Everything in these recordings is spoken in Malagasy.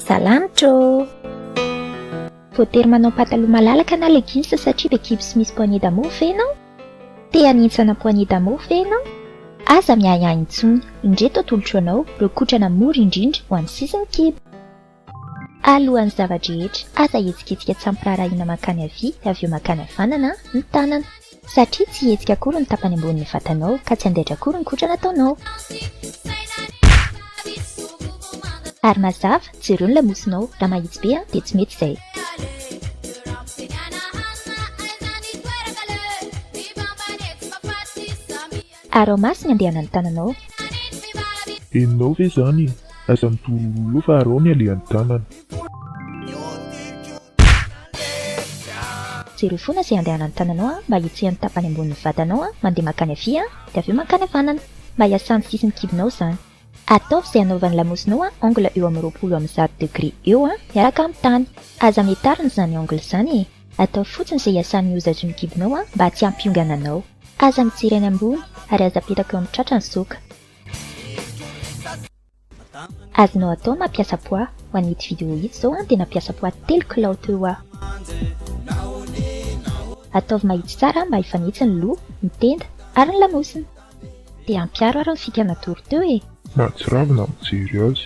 Salamtra ô! Voatery manao pataloha malalaka na leggings satria be kibo sy misy poignée d'amour ve ianao? Te hanintsana poignée d'amour ve ianao? Aza miahiahy intsony, indreto atolotro anao ireo kotrana mora indrindra ho an'ny sisin'ny kibo. Alohan'ny zava-drehetra, aza hihetsiketsika tsy ampiraharahiana mankany havia avy eo mankany havanana ny tanana. Satria tsy hihetsika akory ny tapany ambonin'ny vatanao, ka tsy handaitra akory ny kotrana ataonao. Ary mazava, jereo ny lamosinao, raha mahitsy be an, dia tsy mety izay. Ary ao maso ny andehanan'ny tananao. Henonao ve izany? Aza mitorololo fa arao ny alehan'ny tanana. Jereo fona ze andehanan'ny tananao a, mba hiatsian'ny tapany ambonin'ny vatanao a, mandeha mankany avia a, de avy eo mankany avanana, mba hiasan'ny sisin'ny kibonao zany. Ataovy ze anaovan'ny lamosinao a, angle eo amin'ny roapolo amin'ny zato degre eo a, miaraka amin'ny tany. Aza mitarina zany angle zany e, ataovy fotsiny ze hiasan'ny ozazoin'ny kibonao a, mba tsy hampiongana anao. Aza mijery any ambony, ary aza apetraka eo amin'ny tratra ny soka. Azonao atao ny mampiasa poids, ho an'ity vidéo ity zao an dia nampiasa poids telo kilao teo aho. Ataovy mahitsy tsara mba hifanitsy ny loha, ny tenda ary ny lamosina. Dia ampiaro ary ny fika natoro teo e! Mahatsiravina mijery azy.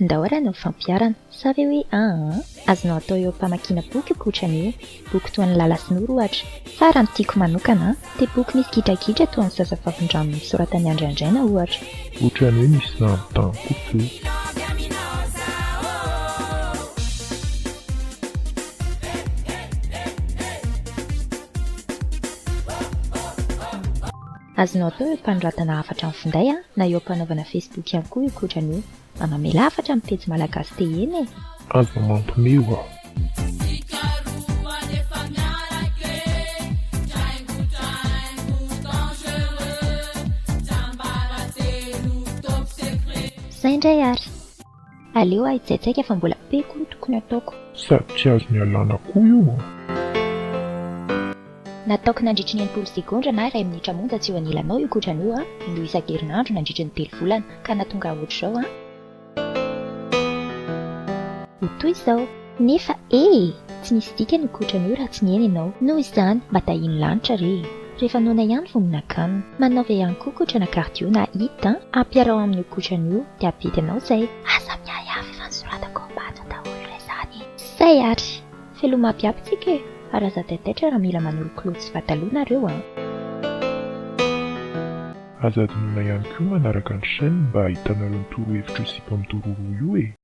Ndao ary hanao fampiharana. Sa ve hoe aa. Azonao atao eo am-pamakiana boky io koa Trania e. Boky toa an'i Lala sy Noro ohatra. Fa raha ny tiako manokana an. Dia boky misy gidragidra toa an'i Zazavavindrano nosoratan'i Andry Andraina ohatra. Otrany hoe misy zandry tany koa teo. Azonao atao eo panoratana hafatra amin'ny finday a, na eo ampanaovana facebook ihany koa io kotrana io. Mba mamela hafatra amin'ny pejy malagasy tehena e! Aza mampme hoa. Zay ndray ary. Aleo aho hitsaitsaika fa mbola be koa no tokony ataoko. Sady tsy azony alàna koa io an! Nataoko nandritry ny enimpolo segondra na iray minitra monja tsy eo anilanao io kotran'io an! Indroa isan-kerinandro nandritry ny telo volana ka nahatonga ahy ohatr'izao an! Ho toy izao. Nefa e! tsy misy dikany ny kotran'io raha tsy nihaino ianao. Noho izany, mba tahin'ny lanitra re e! Rehefa noana ihany vao mihinan-kanina. Manaova ihany koa kotrana cardio na hit an! Ampiaraho amin'io kotran'io dia hampety anao izay. Aza miahy aho f'efa nosoratako ao am-bato daholo re izany e! Zay ary! Veloma aby aby tsika e! Ary aza taitaitra raha mila manolokoloky sy pataloha nareo an! Aza adinoina ihany koa manaraka ny chaîne mba hahitanareo ny torohevitro sy mpampitoro roa io e!